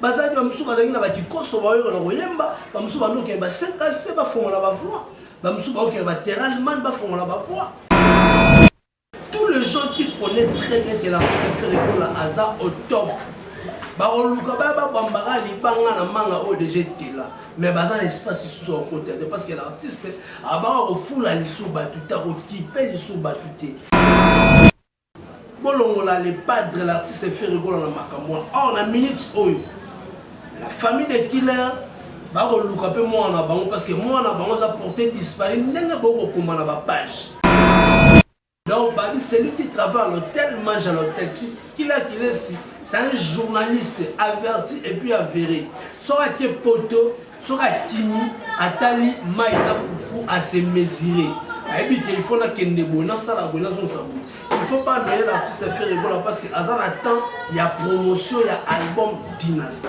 bazalaki bamosusu bazalaki na bakikoso baoyoka na koyemba bamosusu bandokende basekase bafongola bavoi bamosusu baokende bateralman bafongola bavoi tous les gens qui connaît très bien que la ferrekola aza au top bakoluka baya babambaka libanga na manga oyo deja etela mais baza na espace lisusu akota te parce que l'artiste abaka kofula lisu bato te akokipe lisu bato te Bolongola le padre l'artiste Ferre Gola na makambo wana. Or na minutes oyo la famille de killer bakoluka mpe mwana na bango parce que mwana na bango aza porte disparu ndenge bokokoma na bapage donc babi celui qui travaille à l'hôtel mange à l'hôtel kila kilesi c'est un journaliste averti et puis avéré soki ake poto soki akimi atali mai na fufu ase mesure ayebi ke ilfaut nakende boye nasala boye nazongisa boye il faut pas noye na artiste fere ebola parce que aza na temps ya promotion ya album dynastie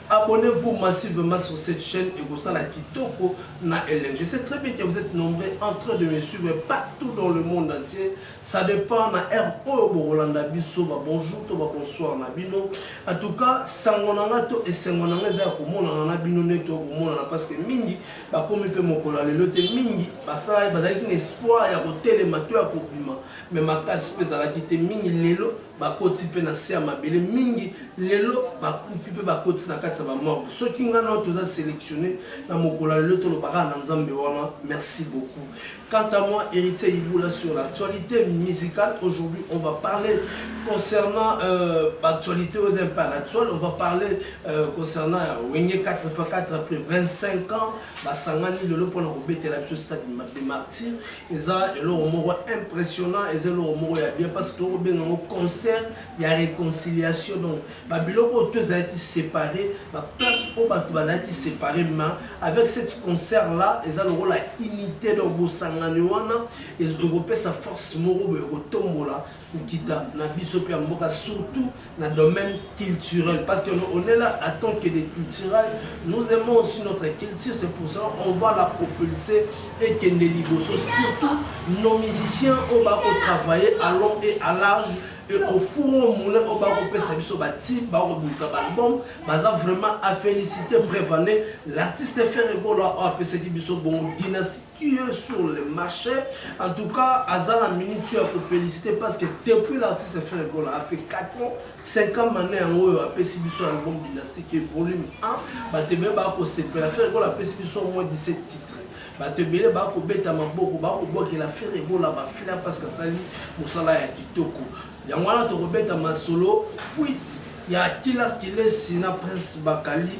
Abonnez vous massivement sur cette chaîne et Gosala Kitoko na Hélène. Je sais très bien que vous êtes nombreux en train de me suivre partout dans le monde entier. Ça dépend na heure oyo bokolanda biso ba bonjour to ba bonsoir na bino. En tout cas, sango na nga to esengo na nga eza ya komonana na bino nde to komonana parce que mingi bakomi mpe mokolo ya lelo te mingi basalaki bazalaki na espoir ya kotelema to ya kobima mais makasi mpe ezalaki te mingi lelo bakoti mpe na se ya mabele mingi lelo bakufi mpe bakoti na kati ya bamorgo soki ngai nao toza sélectionne na mokolo ya lelo tolobaka na nzambe wana merci beaucoup quant à moi héritier ibula sur l'actualité musicale aujourd'hui on va parler concernant euh, actualité aux impar actuel on va parler euh, concernant wenge 84 après 25 ans basangani lelo mpona kobetela biso stade de martyr eza eloko moko impressionnant eza eloko moko ya bien parce que tokobenga yango concert ya réconciliation donc babiloko oyo to ezalaki séparé baplace oyo bato bazalaki séparé ma avec cette concert là eza lokola unité donc bosangani wana ekopesa force moko boye kotombola nkita na biso mpe ya mboka surtout na domaine culturel parce que on est là à tant que des culturels nous aimons aussi notre culture c'est pour ça on va la propulser ekende liboso surtout nos musiciens oyo bakotravailler à long et à large et au four au moulin oyo bakopesa biso batime bakobimisa baalbum baza vraiment à féliciter prévane l'artiste ferre ebola oyo apesaki biso bongo dynastie qui est sur le marché. En tout cas, Azana Minute, tu as pour féliciter parce que depuis l'artiste a fait un goal, a fait 4 ans, 5 ans, maintenant, il y a un peu si un album dynastique et volume 1, bah, tu peux pas se faire un goal, a fait si au moins 17 titres. bato ebele bakobeta maboko bakobwakela fere ebola bafila parce que asali mosala ya kitoko yango wana tokobeta masolo fuite ya kila kilesi na prince bakali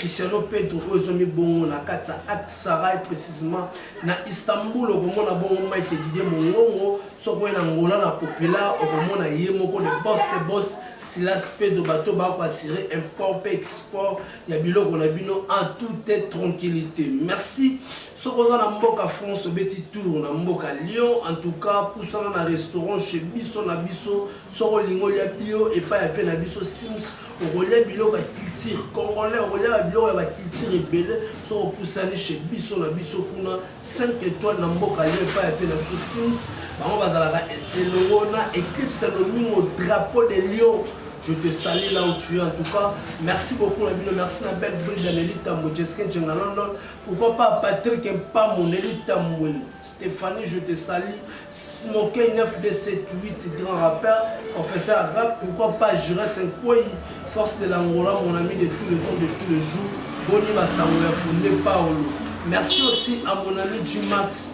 Cristiano Pedro oyo ezomi bongo na kati ya Aksaray precisement na Istanbul okomona bongo Mike Didier Mongongo soko ye na Ngola na Populaire okomona ye moko le boss de boss Silas Pedro bato bako assurer import pe export ya biloko na bino en toute tranquillité merci soko oza na mboka France obeti tour na mboka Lyon en tout cas pusana na restaurant chez biso na biso soko olingi olia bio epai ya vie na biso Sims okolia biloko ya culture congolais okolia ba biloko ya ba culture ebele so opusani chez biso na biso kuna 5 étoile na mboka lio epai ya mpe na biso sims bango bazalaka elongo na eclipse lomingo drapeau de lion Je te salue là où tu es en tout cas. Merci beaucoup Nabino, merci na belle bride Nelly Tambo, Jessica Djenga London. Pourquoi pas Patrick Mpamo, Nelly Tambo. Stephanie je te salis Smokey 9278 grand rappeur professeur à rap pourquoi pas Jures Nkwei force de l'Angola mon ami de tous les temps de tous les jours boni basango ya Funde Paolo merci aussi à mon ami G-Max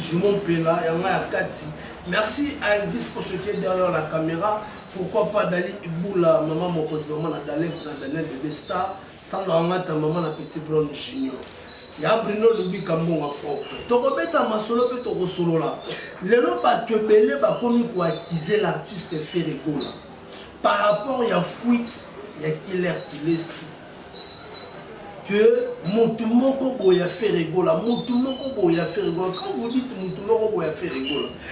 Jumo Mpela yanga ya kati merci à Elvis Pochotier derrière la caméra pourquoi pas Dali Iboula maman mokonzi maman na Dalex na Daniel Bebe Star Sandra Wangata maman na petit Brown Junior ya Bruno Lubika mbongo propre tokobeta masolo mpe tokosolola lelo bato ebele bakomi koakize l'artiste Ferre Gola par rapport ya fuite ya Killer Kilesi que motu moko boya Ferre Gola motu moko boya Ferre Gola quand vous dites motu moko boya Ferre Gola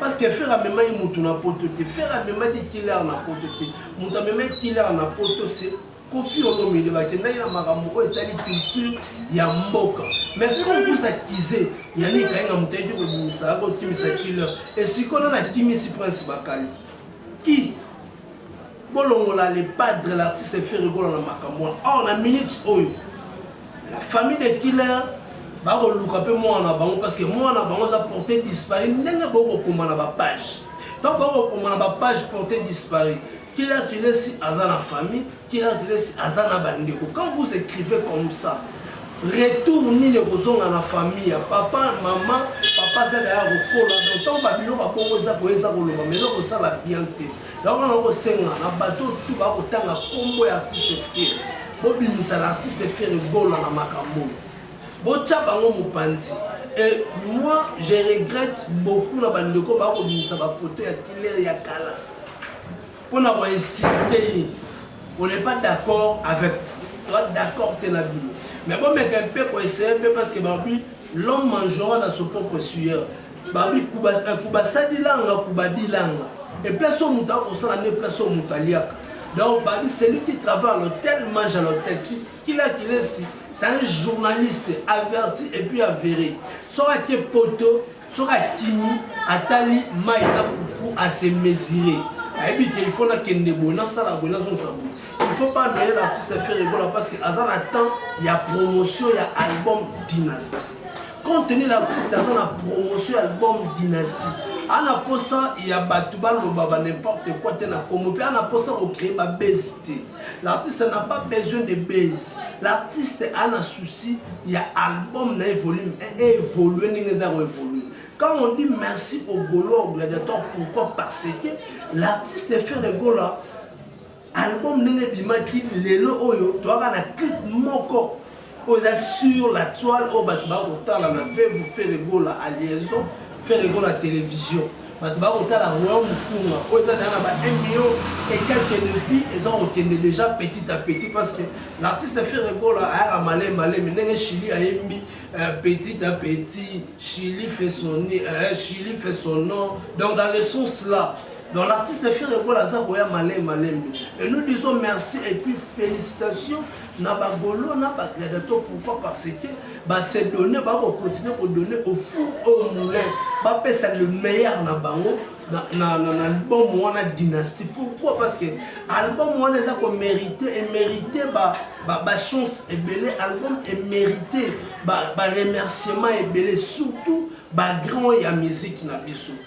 Parce que Ferre amemaki mutu na poto te. Ferre amemaki killer na poto te. Mutu amemaki killer na poto c'est Koffi Olomide bakendaki na makambo oyo etali culture ya mboka. Mais quand vous accusez Yannick Kayenga mutu ayaki kobimisa yako kimisa killer. Esikola na kimisi Prince Bakali. Qui Bolongola le padre l'artiste Ferre Gola na makambo wana. Or na minutes oyo la famille de killer bakoluka mpe mwana na bango parce que mwana na bango aza porte disparu ndenge bokokoma na bapage ntango bakokoma na bapage porte disparu killer kilesi aza na famille killer kilesi aza na bandeko quand vous écrivez comme ça retour nini ekozonga na famille ya papa mama papa azaka ya kokola donc ntango babilo babongo eza koya eza koloba mais eza kosala bien te Yango wana okosenga na bato tu bakotanga nkombo ya artiste Ferre, bobimisa na artiste Ferre Gola na makambo oyo, botya bango mopanzi. Et moi, je regrette beaucoup na bandeko bakobimisa bafoto ya Killer ya kala mpo na koinsulte ye. On n'est pas d'accord avec vous, toi d'accord te na bino, mais bomeka mpe koessaye mpe parce que babi l'homme mangeant na son propre sueur babi kuba eh, kuba sadilanga kuba dilanga et place au muta ko sala ne place au muta liaka donc babi celui qui travaille à l'hôtel mange à l'hôtel qui qui l'a qu'il est c'est un journaliste averti et puis avéré soki ake poto soki akimi atali mai na fufu ase mesure ayebi ke il faut nakende boye nasala boye nazongisa boye il faut pas noye l'artiste faire egola parce que aza na temps ya promotion ya album dynastie compte tenu l'artiste aza na promotion ya album dynastie ana posa ya bato baloba ba n'importe quoi te na congo mpe ana posa kocree babase te l'artiste n'a pas besoin de base l'artiste ana souci ya album na ye volume evolue ndenge eza koevolue Quand on dit merci au Golo, au gladiateur, pourquoi Parce que l'artiste Ferre Gola Album ndenge ebimaki lelo oyo toyaka na clip moko oyo eza sur la toile oyo bato bakotala na vevu feregola a liaison feregola télévision bato bakotala royau mokunga oyo eza deja na ba 1 million et quelques de vie eza kokende déjà petit à petit parce que l'artiste feregola ayaka malemi malemi ndenge chili ayembi euh, petit à petit chili fait son, euh, chili fait son nom donc dans le sens là Donc l'artiste Ferre Gola aza koya malembe malembe et nous disons merci et puis félicitations na ba golo na ba gladiator pourquoi parce que ba se donner ba ko continuer ko donner au four au moulin ba pesa le meilleur na bango na, na, na, na album wana dynastie pourquoi parce que album wana eza ko mérite emérite ba, ba, ba chance ebele album emérite ba, ba remerciement ebele surtout ba grand ya musique na biso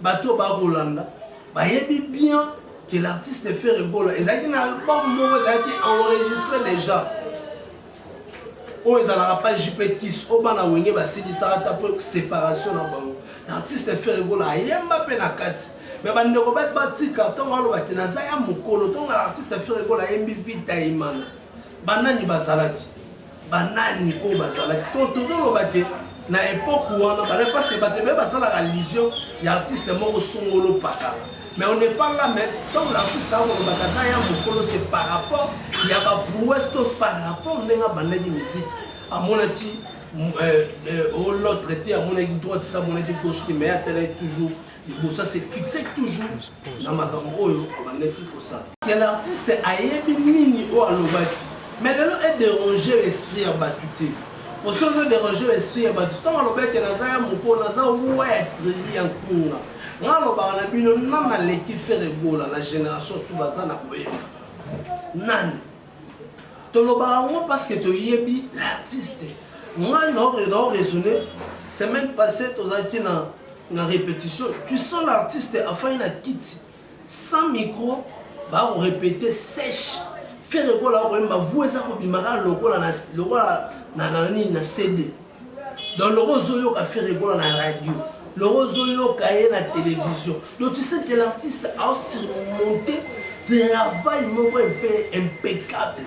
Bato oyo bakolanda bayebi bien que l'artiste Ferre Gola ezalaki na album moko ezalaki enregistré déjà oyo ezalaka pa jp kis oyo bana wenge basilisaka ata mpo séparation na bango l'artiste Ferre Gola ayemba mpe na kati me bandeko bati batika ntongo alobaki naza ya mokolo ntongo na artiste Ferre Gola ayembi vita imana banani bazalaki banani oyo bazalaki to tozoloba ke na epoque wana bazalaki parce que bato ebele basalaka allusion ya artiste moko songolo pakala mais on n'est pas là mais ntango l'artiste akolobaka aza ya mokolo se par rapport ya baprouesse to par rapport ndenge abandaki musique amonaki euh, euh, o l'autre te amonaki droite te amonaki gauche te mais atalaki toujours liboso ase fixe toujours na makambo oyo abandaki kosala ya l'artiste ayebi nini oyo alobaki mais lelo ederange esprit ya bato te osi ozo derange esprit ya bato ntango alobaki naza ya moko naza wuwa ya tribu ya nkunga nga alobaka na bino nani aleki fere gola na génération tu baza na koyeba nani tolobaka yango parce que toyebi l'artiste ngai nao raisonne semaine passée tozalaki na na répétition tu sens l'artiste afai na kiti sans micro bakorépéte sèche fere ekola akoyemba vu eza kobimaka lokola na cd donc loko ozoyoka ferre gola na radio loko ozoyoka ye na télévision donc tu sais que l'artiste asurmonte travail moko mpe impeccable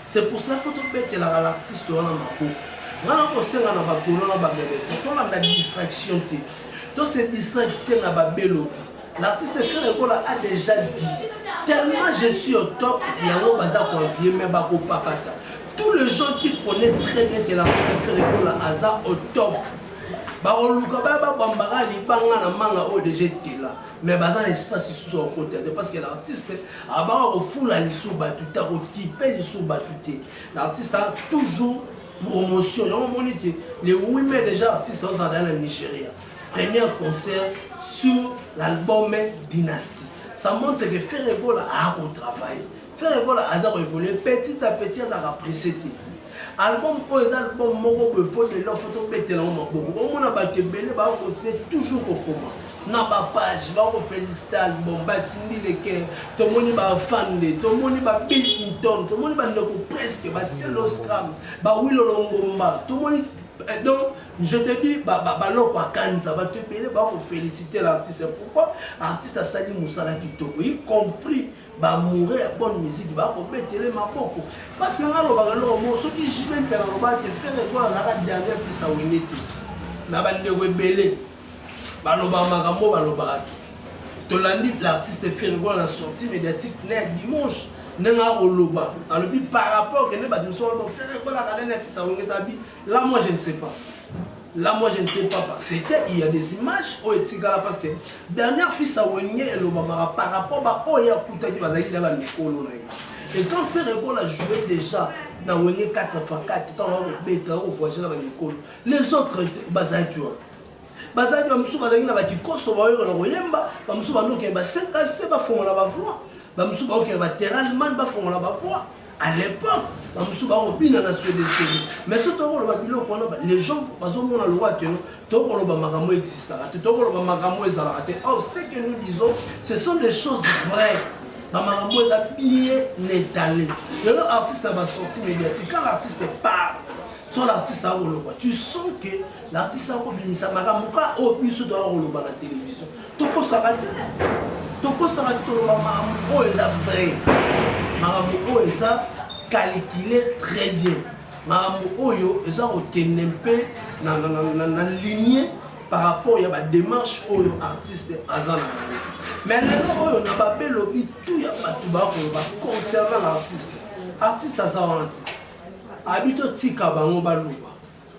c'est pour cela faut tobetelaka l'artiste wana maboko nga nakosenga na bakolo na bameme po tolanda distraction te tose distraite te na babelobi L'artiste Ferre Gola a déjà dit tellement je suis au top yango baza koavie mais bakopakata tous les gens qui connaît très bien que l'artiste Ferre Gola aza au top bakoluka baya babambaka libanga na manga oyo deja etela mais baza na espace lisusu ya kokota te parce que l'artiste abaka kofula lisu bato te akokipe lisu bato te l'artiste a toujours promotion yango omoni te le wime deja artiste ozala na nigeria Premier concert sur l'album Dynastie. Ça montre que Ferre Gola a ko travailler. Ferre Gola aza ko évoluer petit à petit aza ka pressé te. Album oyo eza album moko boye faut de l'offre to betela ngo maboko. Ba mona ba kebele ba continuer toujours ko koma. na bapage bakofelisite album basindi leke tomoni bafande tomoni ba bill clinton tomoni bandeko presque basieloscram bawilolongomba tomoni eh, donc Je te dis ba ba baloko akanisa ba tu pele ba ko féliciter l'artiste pourquoi artiste asali musala kitoko y compris ba amoureux ya bonne musique ba ko betele maboko parce nga lo ba lo mo soki JB mpela lo ba te faire quoi la ka dernière fils a wenge te na ba ndeko ebele ba lo ba makambo ba lo ba ki tolandi l'artiste fergo na sortie médiatique na ya dimanche ndenge akoloba alobi par rapport kende bato mosusu wana bofere ekolaka nene afisa wenge tabi Là moi je ne sais pas. Là moi je ne sais pas parce que il y a des images oyo etikala parce que dernière fille sa wenge elobamaka par rapport ba oyo akutaki bazalaki na bamikolo na ye. Et quand Ferre Gola jouait déjà na wenge 4 fois 4 ntango akobeta akovoyage na bamikolo les autres bazalaki wana bazalaki bamosusu bazalaki na bakikoso baoyo na koyemba bamosusu bandokende basekase bafongola bavoi bamosusu baokende bateralman bafongola bavoi à l'époque bamosusu bakobina na swedeswede mais so tokoloba biloko wana les gens bazomona lokola keno tokoloba makambo existaka te tokoloba makambo ezalaka te or ce que nous disons ce sont des choses vraies bamakambo eza bien étale lelo artiste ya basortie médiatique quand l'artiste parle so l'artiste akoloba tu sens que l'artiste akobimisa makambo ka oyo biso toakoloba na télévision tokosaka te tokosaka te toloba makambo oyo eza vrai makambo oyo eza calcule très bien makambo oyo eza kokende mpe na ligne par rapport ya badémarche oyo artiste aza na yango mais lelo oyo na babe lobi tu ya bato bakoloba concernant l'artiste artiste aza wana te abi totika bango baloba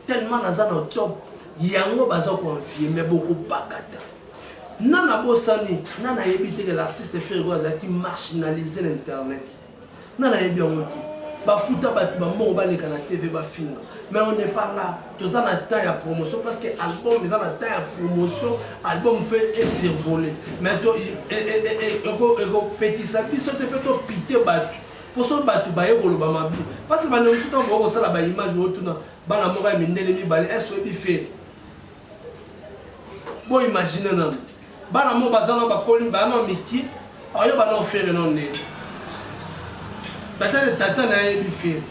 tellement naza na top yango baza koenvie me bokobakata na nabosani na nayebi te ke l'artiste fergo azalaki marginalise na internet na nayebi yango te bafuta bato bambongo baleka na tv bafinga mais on n'est pas là toza na temps ya promotion parce que album eza na temps ya promotion album fe esurvole mais ekopekisa biso te mpe topite bato poso bato baye koloba mabe parce bande mosusu ntango boye kosala ba image bootuna bana moko ya mindele mibale es oyebi fele bo imagine nano bana moko baza na bakoli bana miki aoye bana ofere no nde tata tata na yebi fere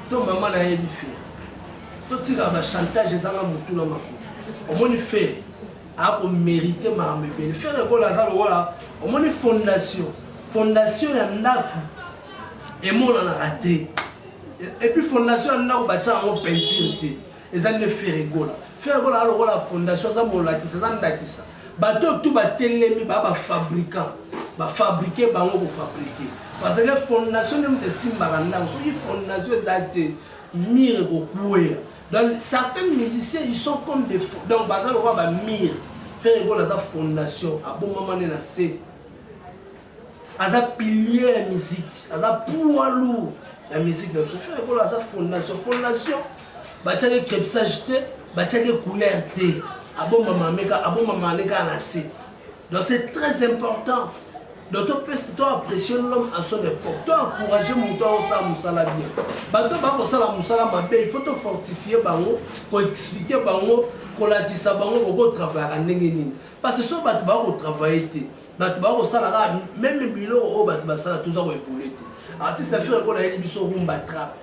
to mama na yebi fere totika bachantage ezanga motu na makolo omoni fere ako merite makambo ebele fere kola aza lokola omoni fondation fondation ya ndako emonanaka te epuis fondation ya ndako batya yango peinture te eza nde fere kola fere kola aza lokola fondation aza molakisa aza ndakisa bato oyo tu batelemi baa bafabrikant bafabrike bango kofabrike parce que fondation nde moto esimbaka ndako soki fondation eza te mire kokwea Donc certains musiciens ils sont comme des fo- donc baza lokola ba mur. Ferre Gola aza fondation, abomama nde na se. Aza pilier ya musique, aza poids lourd ya musique na biso. Ferre Gola aza fondation, fondation batiaki crepissage te, batiaki couleur te. Abomama ameka, abomama aleka na se. Donc c'est très important. Donc to pèse to apprécier l'homme à son époque. To encourager mutu au sa musala bien. Bato ba ko sala musala mabe, il faut to fortifier bango, ko expliquer bango, ko lakisa bango ko travailler ndenge nini. Parce que so bato ba ko travailler te. Bato ba ko sala ka même biloko oyo bato ba sala toza ko évoluer te. Artiste affaire ko na yeli biso rumba trap.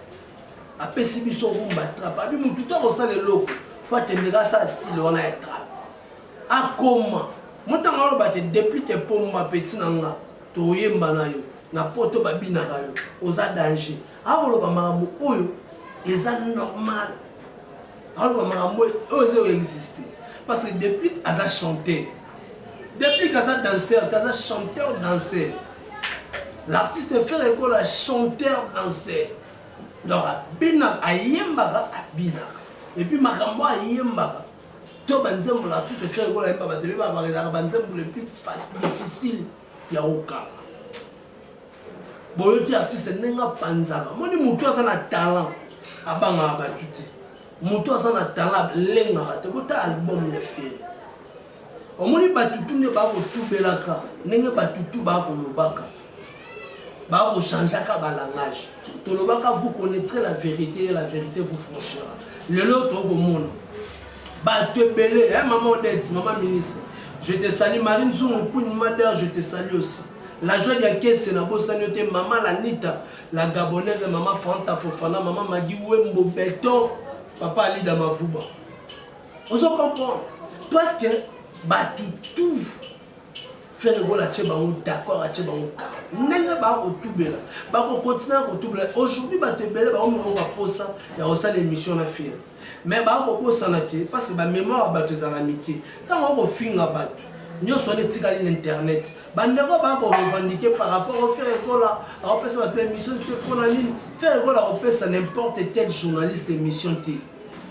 Apesi biso rumba trap. Abi mutu to ko sala eloko. Faut atendeka sa style wana ya trap. Akoma. Moi tango aloba ke depuis te pomba petit na nga toyemba na yo na poto ba binaka yo oza danger akoloba makambo oyo eza normal aloba makambo oyo oyo eza existe parce que depuis aza chanteur depuis kaza danseur kaza chanteur danseur l'artiste fere ekola chanteur danseur donc abina ayembaka abinaka epuis makambo ayembaka To ba nzembo na artiste fier ko la yemba ba tebe ba ba la ba nzembo le plus facile difficile ya okala. Boyoki artiste ndenge apanzaka. Moni mutu aza na talent abanga ba tuti. Mutu aza na talent lenga ba te bota album ya fier. Omoni batutu nde bakotubelaka ndenge batutu bakolobaka ba ko changeaka ba langage tolobaka vous connaîtrez la vérité et la vérité vous franchira lelo tokomona bato ebele eh, mama odette mama ministre je te sali marie nzungu kuni mader je te sali aussi la joie ya kese na bosani yo te mama lanita la gabonaise mama fanta fofana mama magi wembo beton papa alida mavuba ozo comprendre parce que bato tout Ferre Gola atie bango d'accord atie bango ka ndenge bakotubela bakokontinue kotubela aujourd'hui bato ebele bakomikao baposa ya kosala émission na Ferre mais bakobosana te parce que bamémoire ya bato ezalaka mike ntango akofinga bato nyonso wana etikali na internet bandeko baya korevendike par rapport au faire ekola akopesa bato émission te mpo na nini faire ekola akopesa n'importe quel journaliste émission te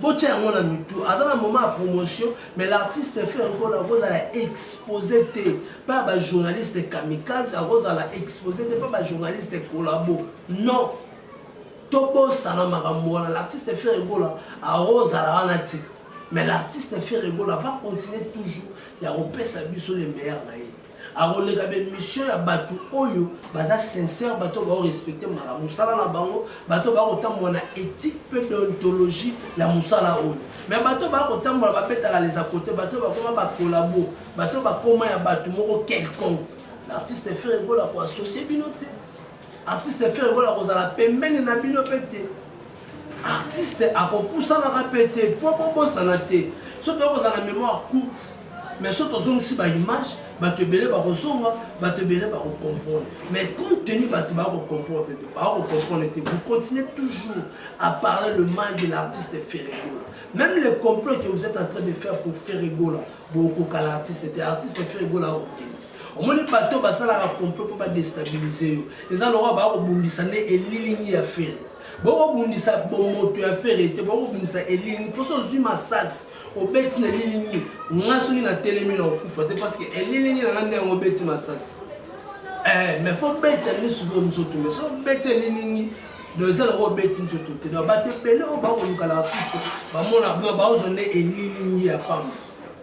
Botia yango na mitu aza na moment ya promotion mais l'artiste frère nkolo akozala expose te pa bajournaliste kamikaze akozala expose te pa bajournaliste kolabo non tobosana makambo wana l'artiste frère egola akozala wana te mais l'artiste frère egola va continuer toujours ya kopesa biso le meilleur na ye akoleka ba emission ya bato oyo baza sincère bato oyo bao respecte maka mosala na bango bato oyo bakotambola na éthique mpe deontologie ya mosala oyo me bato oyo bakotambola babetaka les à côté bato oyo bakoma bakolabo bato oyo bakoma ya bato moko quelconque l'artiste frere gola koassocie bino te Artiste Ferre Gola akozala pembeni na bino mpe te. Artiste akopusanaka mpe te mpo bobosana te. So toyei kozala na mémoire courte, mais so tozongisi baimage, bato ebele bakozonga, bato ebele bakocomprendre. Mais compte tenu bato bakocomprendre te, bakocomprendre te, vous continuez toujours à parler le mal de l'artiste Ferre Gola. Même le complot que vous êtes en train de faire pour Ferre Gola, bokoka l'artiste te, artiste Ferre Gola akokende. omoni bato oyo basalaka complot mpo badestabilize yo eza lokola baya kobundisa nde elilingi ya fere bokobundisa bomoto ya fere te bokobundisa elilingi mposo ozwi masasi obeti na elilingi nga soki natelemi na okufa te parce que elilingi na nga nde yango obeti masasi eh, mais fo beta nde sikoyo nzoto mais so obeti elilingi donc eza lokola obeti nzoto te donc bato ebele oyo bakolukalaka kristo bamona baozwa nde elilingi ya pamba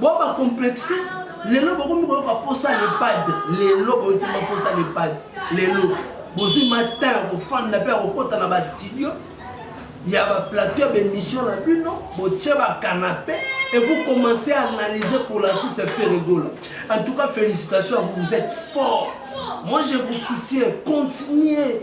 boba complexe lelo bokomi koyoka posa lepade lelo boyoki maposa lepade lelo bozwi matin ya kofanda mpe ya kokɔta na bastudio ya baplateau ya baémission na bino botye bacanape et vous commencez à analyser pour l'artiste ferregola en tout cas félicitations à vous vous êtes fort moi je vous soutiens continuez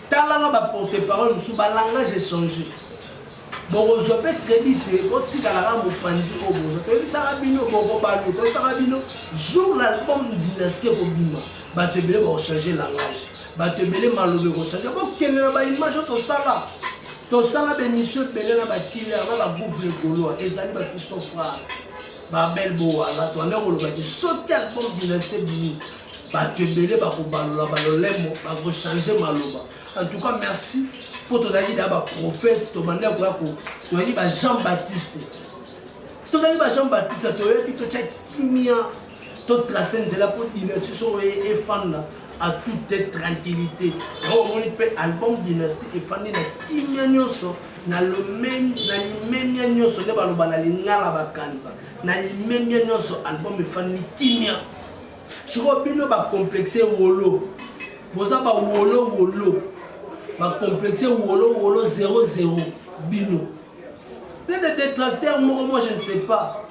Tala na ba porte parole mosusu ba langage echange bokozwa mpe credit te botikalaka mopanzi oyo boza toyebisaka bino bokobalo toyebisaka bino jour l'album dynastie ekobima bato ebele bakochange langage bato ebele maloba ekochange bokende na baimage oyo tosala tosala bemission ebele na bakiller na bagouvre golois ezali bafisto frare babel bowala toanda kolobaki soki album dynastie bimi bato ebele bakobalola balolemo bakochange maloba en tout cas merci mpo tozalaki na baprofete tobanda koya toyaki ba jean baptiste tozalaki ba jean baptiste toyaki totya kimia totrace nzela mpo dynastie soko efanda à toute tranquillité yango omoni mpe album dynastie efandi na kimia nyonso na limemia nyonso nde baloba na lingala bakanisa na limemia nyonso album efandi kimia Sikoyo bino ba complexe wolo. Boza ba wolo wolo. Ba complexe wolo wolo 00 bino. Peut-être des détracteurs moko moi je ne sais pas.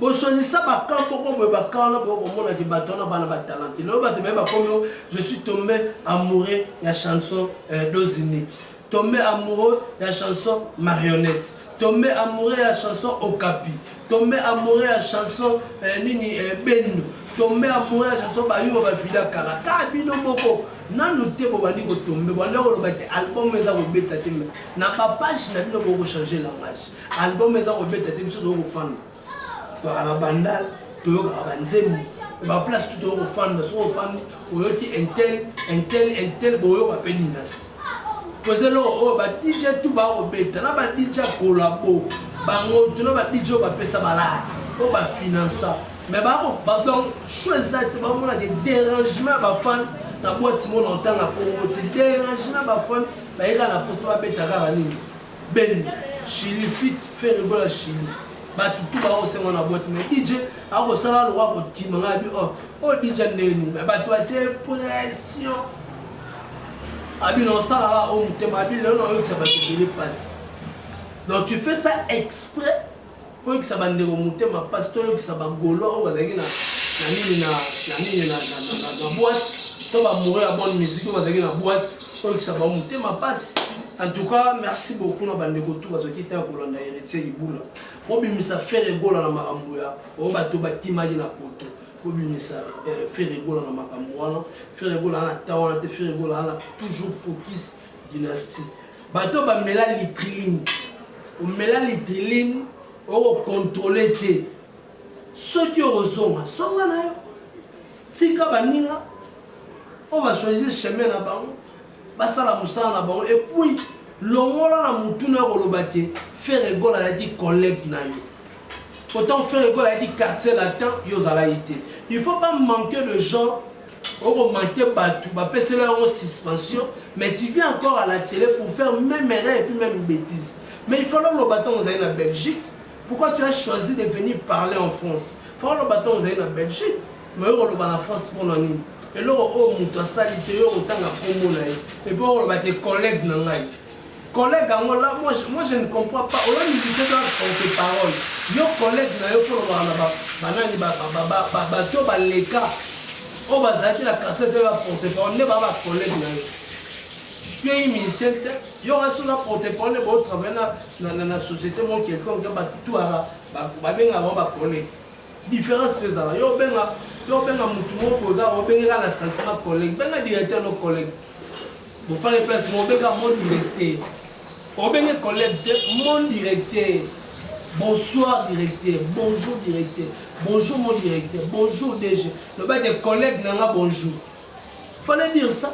bosolisa bakan moko boye bakan wana boye komonaki bato wana bana batalante lelo bato baye bakomi je suis tombé amoureux ya chanson euh, dose unique Tombe amoureux ya chanson marionnette tombe amoureux ya chanson okapi tombe amoureux ya chanson eh, nini eh, bendo tombe amoureux ya chanson bayuma bavida kala kaka bino moko nanu te bobandi kotombe banda koloba te album eza kobeta te na bapage na bino bokochange langage album eza kobeta te biso tokofanda baka na bandal toyokaka banzembo ba place tout oyo ofanda soki ofandi oyoki intel intel intel boyoka mpe dynastie toza eloko oyo ba dj tu bakobeta na ba dj ya kolabo bango tu na ba dj oyo bapesa balaya oyo bafinansa mais bakobadon cho eza te bamonaka derangement ya bafane na bwati mona otanga kongo te derangement ya bafane bayekaka na mposa babeta kaka nini Ben Chili fit Ferre Gola Chili batu tu bao sengo na boîte mais DJ ako sala lo wako kima nga bi oh oh DJ ndeni mais batu atie pression abi na sala ba o mutema abi lelo na yo tsa batu bele passe donc tu fais ça exprès Koyokisa ba ndeko motema pasi, toyokisa ba golois oyo bazalaki na na nini na na nini na na na na boîte, to ba moureux ya bonne musique oyo bazalaki na boîte, koyokisa bango motema pasi. En tout cas, merci beaucoup na ba ndeko tout bazwaki temps ya kolanda Heritier Libula. Bobimisa Ferre Gola na makambo ya oyo bato bakimaki na poto. kobimisa eh, Ferre Gola na makambo wana. Ferre Gola ana temps wana te, Ferre Gola ana toujours focus dynastie bato bamela litriline omela litriline okokontrole te soki okozonga zonga na yo tika baninga oyo bachoisir chemin na bango basala mosala na bango epuis longola na motuna ya koloba te fere egola ayaki collègue na yo pourtant fere egola ayaki quartier latin yo ozalaki te il faut bamanque de gens oko manquer batu ba pesela yango suspension mais tu viens encore à la télé pour faire même erreur et puis même bêtise mais il fallait loba tant ozali na Belgique pourquoi tu as choisi de venir parler en France il fallait loba tant ozali na Belgique mais oko loba na France pour na nini eloko oyo moto asali te yo otanga kombo na ye epe oko loba te collègue na ngai Collègue yango là moi je, moi je ne comprends pas oyo musicien to porte parole yo collègue na yo mpo olobaka na ba banani ba ba ba ba ba bato oyo baleka oyo bazalaki na quartier te ba porte parole nde ba ba collègue na yo yo ye musicien te yo kasi oza porte parole bo travaille na na na société mo quelconque ba tuara ba babenga bango ba collègue Difference pe ezala yo obenga yo obenga mutu moko boda obenge kaka na sentiment collègue benga directeur no collègue bofale place mo obenga mon directeur obenge collègue te mon directeur bonsoir directeur bonjour directeur bonjour mon directeur bonjour DG loba te collègue nanga bonjour fallait dire ça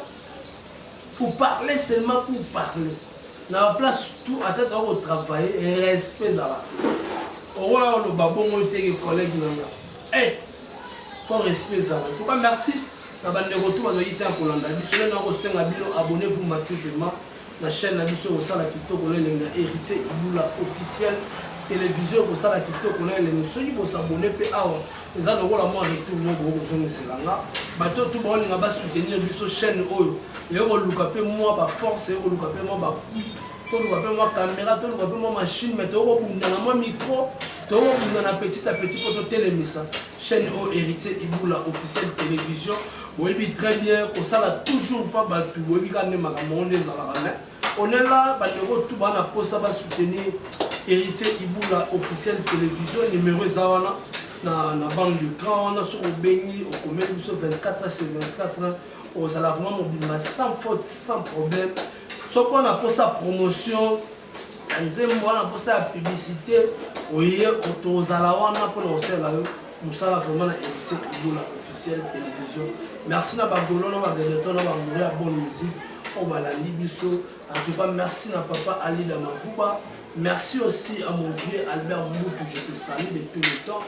Pour parler seulement pour parler na ba place tout ata toza ko travailler respect ezalaka okoya oloba bongo te ke collègue na nga eh faut respect ezala en tout cas merci na ba ndeko tout bazo yita kolanda biso lelo nakosenga bino abonnez vous massivement na chaîne na biso ekosala kitoko na elengi na héritier ibula officiel televizio ekosala kitoko na elengi soki bosabone mpe awa eza lokola mwa retour moko bokozongisela nga bato oyo tu baolinga basoutenir biso chaîne oyo eye koluka mpe mwa baforce eye koluka mpe mwa bapui toluka mpe mwa kamera toluka mpe mwa machine mai tokokobunda na mwa micro tokokobunda na petit a petit mpo totelemisa chaîne oyo héritier ibula officiel télévision boyebi très bien kosala toujours mpa bato boyebi kaka nde makambo yango nde ezalaka mai On est là bandeko tout bana posa ba soutenir Héritier Iboula officiel télévision numéro eza wana na na banque de cran wana soki obengi okomeli biso 24 c'est 24 ozala vraiment mobimba sans faute sans problème soki wana posa promotion ya nzembo wana posa ya publicité oye tozala wana mpona kosalela yo musala vraiment na héritier ibola officiel télévision merci na bagolo na bavedeton na bamoure ya bonne musique oyo balandi biso en tout cas merci na papa alida mavuba Merci aussi à mon vieux Albert Moutou, je te salue de tout le temps.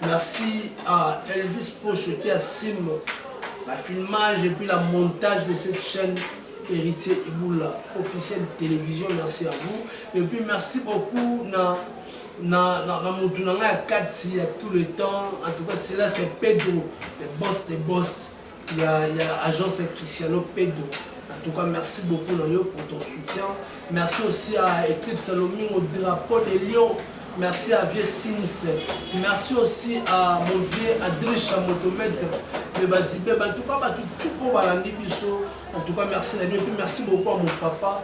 Merci à Elvis Poche qui assume la filmage et puis la montage de cette chaîne Héritier Iboula, officielle télévision. Merci à vous. Et puis merci beaucoup à na, na, na mutu na ngai ya kati ya tout le temps en tout cas cela c'est pedro le boss de boss ya, ya agence ya cristiano pedro en tout cas merci beaucoup na yo pour ton soutien merci aussi à éclipse lomingo drapeau de lion merci à vieux sims merci aussi à mon vieux adricha motomètre me bazibe bantuka bato tuko balandi biso en tout cas merci na bino mpe merci beaucoup à mon papa